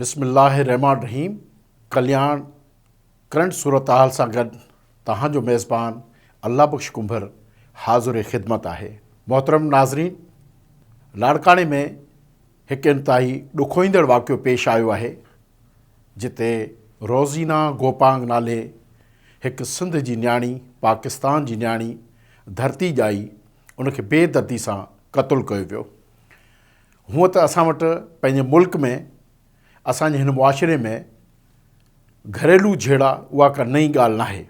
بسم الله الرحمٰن الرحيم ڪلياڻ ڪرنٽ صورتحال سان گڏ توهان جو ميزبان الله بخش ڪنڀر حاضر خدمت آهي محترم ناظرين لاڙڪاڻي ۾ هڪ انتهائي ڏکوئيندڙ واقعو پيش آيو آهي جتي روزينا گوپانگ نالي هڪ سنڌ جي نياڻي پاڪستان جي نياڻي ڌرتي ڄائي ان کي بي دردي سان قتل ڪيو ويو هونء ته اسان وٽ پنهنجي ملڪ ۾ اسان جي هن معاشري ۾ گهريلو جهيڙا اها ڪا نئين ڳالهه ناهي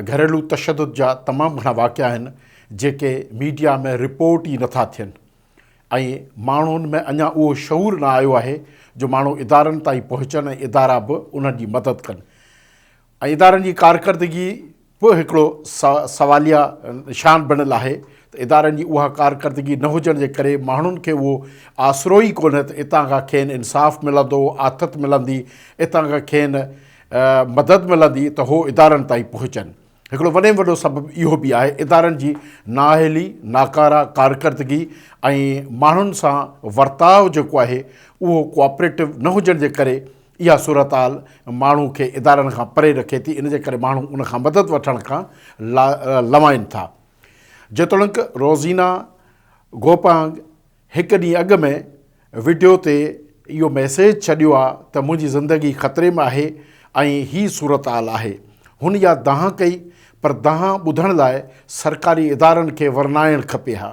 ۽ گهريلو تشدد جا تمام گهڻا واقعا آهن جيڪي ميڊيا ۾ رپورٽ ئي نٿا ٿين ۽ ماڻهن ۾ اڃا اهو شعور نه آيو آهي جو ماڻهو ادارن تائين پهچن ۽ ادارا به انهن جي مدد ڪن ۽ ادارن جي ڪارڪردگي به هڪڙو سواليه نشان بڻيل آهي ته ادارن جي اها ڪارڪردگي نه هجڻ جي ڪري ماڻهن کي اهو آسرو ئي ڪونهي ته اتان کان کين انصاف ملندو، آٿت ملندي، اتان کان کين مدد ملندي ته هو ادارن تائين پهچن. هڪڙو وڏي ۾ وڏو سبب اهو به آهي ادارن جي نااهلي، ناڪاره ڪارڪردگي ۽ ماڻهن سان ورتاء جيڪو آهي اهو ڪوآپريٽو نه هجڻ جي ڪري اها صورتحال ماڻهو کي ادارن کان پري رکي ٿي، ان جي ڪري ماڻهو ان کان مدد وٺڻ کان لوائين ٿا. جيتوڻيڪ روزينا گوپانگ هڪ ڏينهن اڳ ۾ وڊيو تي اهو ميسيج ڇڏيو آهي ته منهنجي زندگي خطري ۾ آهي ۽ هي صورتحال آهي، هن اها دانهن ڪئي پر دانهن ٻڌڻ لاء سرڪاري ادارن کي ورنائڻ کپي ها.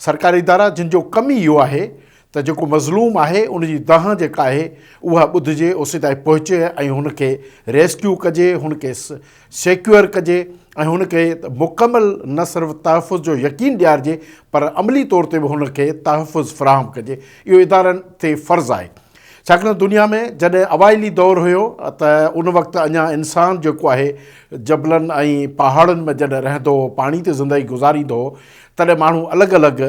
سرڪاري ادارا جن جو ڪم ئي اهو آهي ته جيڪو مظلوم آهي ان جي دانهن جيڪا آهي اها ٻڌجي اسين تائين پهچي ۽ هن کي ريسڪيو ڪجي هن کي سيڪيور ڪجي ۽ هن کي مڪمل نه صرف تحفظ جو يقين ڏيارجي پر عملي طور تي به هن کي تحفظ فراهم ڪجي اهو ادارن تي فرض آهي ڇاڪاڻ دنيا ۾ جڏهن اوائلي دور هيو ته ان وقت اڃا انسان جيڪو آهي جبلن ۽ پهاڙن ۾ جڏهن رهندو هو پاڻي تي زندگي گذاريندو هو تڏهن ماڻهو الڳ الڳ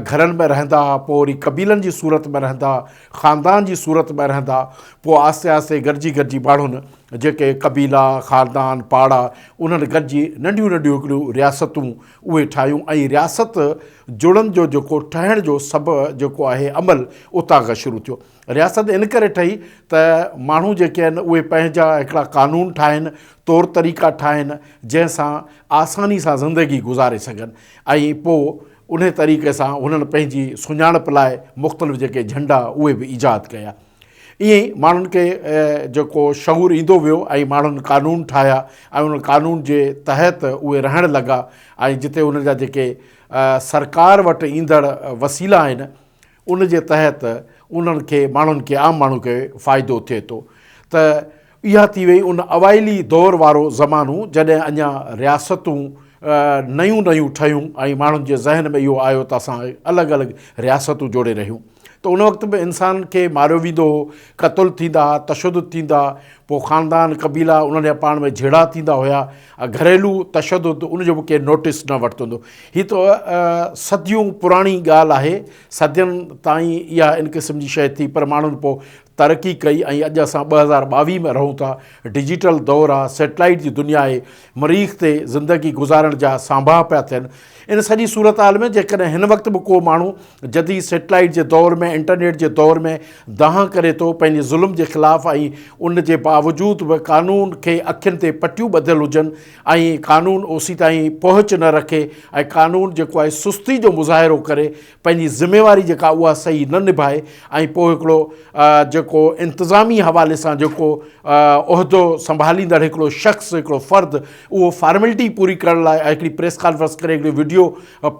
گهرن ۾ رهندا ها، پوء وري قبيلن جي صورت ۾ رهندا، خاندان جي صورت ۾ رهندا، پوء آهستي آهستي گڏجي گڏجي ماڻهن جيڪي قبيلا، خاندان، پاڙا انهن گڏجي ننڍيون ننڍيون هڪڙيون رياستون اهي ٺاهيون ۽ رياست جڙن جو جيڪو ٺهڻ جو سڀ جيڪو آهي عمل اتان کان شروع ٿيو. رياست ان ڪري ٺهي ته ماڻهو جيڪي آهن اهي پنهنجا هڪڙا قانون ٺاهن، طور طريقا ٺاهن، جنهن سان آساني سان زندگي گذاري سگهن ۽ پوء انهي طريقي سان هنن پنهنجي سڃاڻپ لاء مختلف جيڪي جهنڊا اهي به ايجاد ڪيا. ائين ئي ماڻهن کي جيڪو شعور ايندو ويو ۽ ماڻهن قانون ٺاهيا ۽ انهن قانون جي تحت اهي رهڻ لڳا ۽ جتي انهن جا جيڪي سرڪار وٽ ايندڙ وسيلا آهن، ان جي تحت انهن کي ماڻهن کي عام ماڻهو کي فائدو ٿئي ٿو ته اها ٿي وئي ان اوائلي دور وارو زمانو جڏهن اڃا رياستون نيون نيون ٺهيون ۽ ماڻهن جي ذهن ۾ اهو آيو ته اسان الڳ الڳ رياستون جوڙي رهيون ته ان وقت به انسان کي ماريو ويندو هو قتل ٿيندا ها تشدد ٿيندا ها پوء خاندان قبيلا انهن جا پاڻ ۾ جهيڙا ٿيندا هيا ا گهريلو تشدد ان جو به ڪير نوٽيس نه ورتوندو هي ته صديون پراڻي ڳالهه آهي صدين تائين اها ان قسم جي شي ٿي پر ماڻهن پوء ترقي ڪئي ۽ اڄ اسان ٻه هزار ٻاويهه ۾ رهون ٿا ڊجيٽل دور آهي سيٽلائيٽ جي دنيا آهي مريخ تي زندگي گذارڻ جا سانباها پيا ٿين ان سڄي صورتحال ۾ جيڪڏهن هن وقت به ڪو ماڻهو جديد سيٽلائيٽ جي دور ۾ انٽرنيٽ جي دور ۾ دانهن ڪري ٿو پنهنجي ظلم جي خلاف ۽ ان جي باوجود به قانون کي اکين تي پٽيون ٻڌل هجن ۽ قانون اوسيتائين پهچ نه رکي ۽ قانون جيڪو آهي سستي جو مظاهرو ڪري پنهنجي ذميواري جيڪا اها صحيح نه نڀائي ۽ پوء هڪڙو جيڪو انتظامي حوالي سان جيڪو عهدو سنڀاليندڙ هڪڙو شخص هڪڙو فرد اهو فارملٽي پوري ڪرڻ لاء هڪڙي پريس ڪانفرنس ڪري هڪڙو وڊيو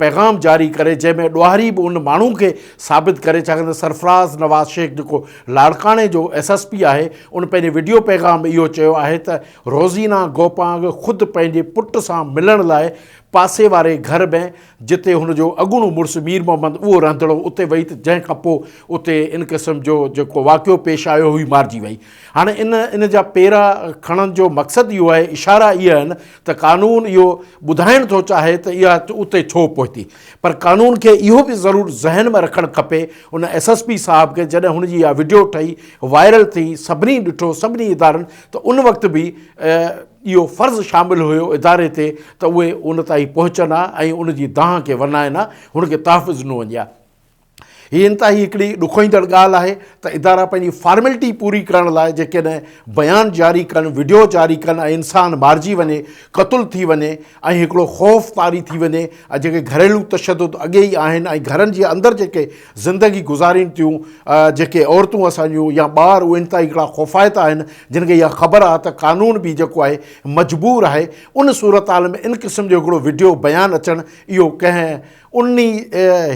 پيغام جاري ڪري جنهن ۾ ڏوهاري به ان ماڻهو کي ثابت ڪري ڇاڪاڻ ته سرفراز نواز شيخ جيڪو لاڙڪاڻي جو ايس ايس پي آهي ان پنهنجي وڊيو پيغام ۾ اهو چيو آهي ته روزينا گوپانگ خود پنهنجي پٽ سان ملڻ لاء پاسي واري گهر ۾ جتي هن جو اڳوڻو مڙس مير محمد اهو رهندڙ هو اتي وئي ته جنهن کانپوء اتي ان قسم جو جيڪو واقعو پيش آيو هئي مارجي وئي هاڻي ان ان جا پيرا کڻڻ جو مقصد اهو آهي، اشارا اهي آهن ته قانون اهو ٻڌائڻ ٿو چاهي ته اها اتي ڇو پهتي. پر قانون کي اهو به ضرور ذهن ۾ رکڻ کپي ان ايس ايس پي صاحب کي جڏهن هن جي اها وڊيو ٺهي وائرل ٿي سڀني ڏٺو سڀني ادارن ته ان وقت به اهو فرض شامل هيو اداري تي ته اهي ان تائين پهچن ها ۽ ان جي دانهن کي ورنائن ها هن کي تحفظ ڏنو وڃي ها. هي انتهائي هڪڙي ڏکوئيندڙ ڳالهه آهي ته ادارا پنهنجي فارملٽي پوري ڪرڻ لاء جيڪڏهن بيان جاري ڪن، وڊيو جاري ڪن ۽ انسان مارجي وڃي، قتل ٿي وڃي ۽ هڪڙو خوف طاري ٿي وڃي ۽ جيڪي گهريلو تشدد اڳي ئي آهن ۽ گهرن جي اندر جيڪي زندگي گذارين ٿيون جيڪي عورتون اسان جون يا ٻار اهي انتهائي هڪڙا خوفائتا آهن جن کي اها خبر آهي ته قانون به جيڪو آهي مجبور آهي ان صورتحال ۾ ان قسم جو هڪڙو وڊيو بيان اچڻ اهو ڪنهن ان ئي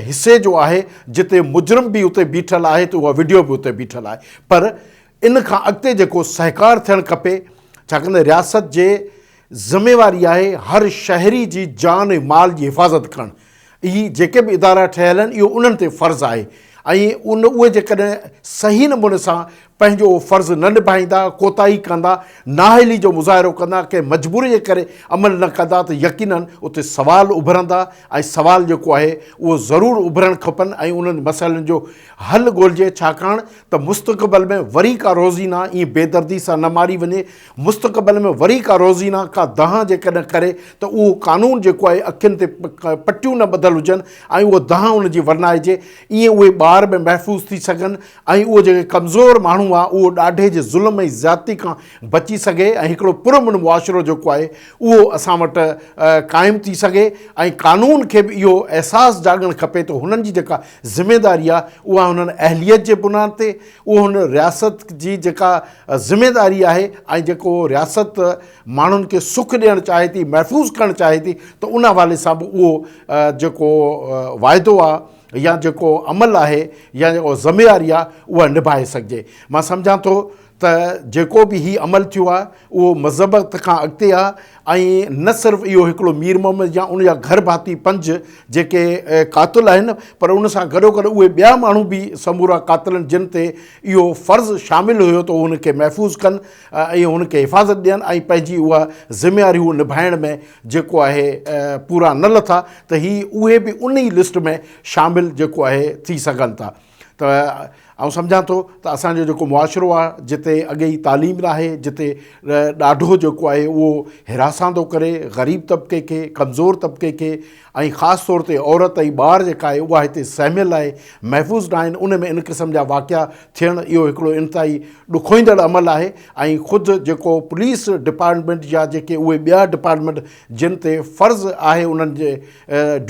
حصي جو آهي جتي مجرم به اتي بيٺل آهي ته اها وڊيو به اتي بيٺل آهي پر ان کان اڳتي جيڪو سهڪار ٿيڻ کپي ڇاڪاڻ رياست جي ذميواري آهي هر شهري جي جان ۽ مال جي حفاظت ڪرڻ هي جيڪي به ادارا ٺهيل آهن اهو انهن تي فرض آهي ۽ ان اهي جيڪڏهن صحيح نموني سان پنهنجو فرض نه نڀائيندا، ڪوتاهي ڪندا، نااهلي جو مظاهرو ڪندا، ڪنهن مجبوري جي ڪري عمل نه ڪندا ته يقيناً اتي سوال اڀرندا ۽ سوال جيڪو آهي اهو ضرور اڀرڻ کپن ۽ انهن مسئلن جو حل ڳولجي ڇاڪاڻ ته مستقبل ۾ وري ڪا روزينا ائين بيدردي سان نه ماري وڃي، مستقبل ۾ وري ڪا روزينا ڪا دانهن جيڪڏهن ڪري ته اهو قانون جيڪو آهي اکين تي پٽيون نه ٻڌل هجن ۽ اهو دانهن ان جي ورنائجي ائين اهي ٻار به محفوظ ٿي سگهن. ۽ اهو جيڪو ڪمزور ماڻهو آهي اهو ڏاڍي جي ظلم ۽ زيادتي کان بچي سگهي ۽ هڪڙو پرامن معاشرو جيڪو آهي اهو اسان وٽ قائم ٿي سگهي ۽ قانون کي به اهو احساس جاڳڻ کپي ته هنن جي جيڪا ذميداري آهي اها هنن اهليت جي بنياد تي اهو هن رياست جي جيڪا ذميداري آهي ۽ جيڪو رياست ماڻهن کي سک ڏيڻ چاهي ٿي محفوظ ڪرڻ چاهي ٿي ته ان حوالي سان به اهو جيڪو واعدو آهي يا جيڪو عمل آهي يا جيڪو ذميواري آهي اها نڀائي سگهجي. مان سمجهان ٿو ته جيڪو به هي عمل ٿيو آهي اهو مذبت کان اڳتي آهي ۽ نه صرف اهو هڪڙو مير محمد يا ان جا گهر ڀاتي پنج جيڪي قاتل آهن پر ان سان گڏوگڏ اهي ٻيا ماڻهو به سمورا قاتلن جن تي اهو فرض شامل هيو ته هو ان کي محفوظ ڪن ۽ ان کي حفاظت ڏين ۽ پنهنجي اها ذميواري هو نڀائڻ ۾ جيڪو آهي پورا نه لٿا ته هي اهي به ان ئي لسٽ ۾ شامل جيڪو آهي ٿي سگهن ٿا ته آئون سمجهان ٿو ته اسان جو جيڪو معاشرو آهي جتي اڳي ئي تعليم ناهي جتي ڏاڍو جيڪو آهي اهو هراساندو ڪري غريب طبقي کي ڪمزور طبقي کي ۽ خاص طور تي عورت ۽ ٻار جيڪا آهي اها هتي سهميل آهي محفوظ ناهن ان ۾ ان قسم جا واقعا ٿيڻ اهو هڪڙو انتهائي ڏکوئيندڙ عمل آهي ۽ خود جيڪو پوليس ڊپارٽمينٽ يا جيڪي اهي ٻيا ڊپارٽمينٽ جن تي فرض آهي انهن جي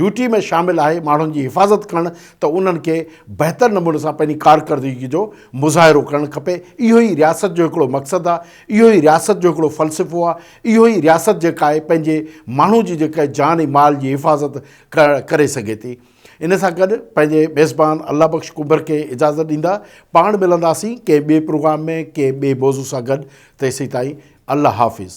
ڊيوٽي ۾ شامل آهي ماڻهن جي حفاظت ڪرڻ ته انهن کي بهتر نموني سان پنهنجي ڪارڪردگي جو مظاهرو ڪرڻ کپي اهو ئي رياست جو هڪڙو مقصد آهي اهو ئي رياست جو هڪڙو فلسفو آهي اهو ئي رياست جيڪا آهي پنهنجي ماڻهو جي جيڪا جان ۽ مال جي حفاظت ڪري سگهي ٿي. ان سان گڏ پنهنجي ميزبان الله بخش ڪنڀر کي اجازت ڏيندا. پاڻ ملنداسين ڪنهن ٻئي پروگرام ۾ ڪنهن ٻئي موضوع سان گڏ تيسين تائين الله حافظ.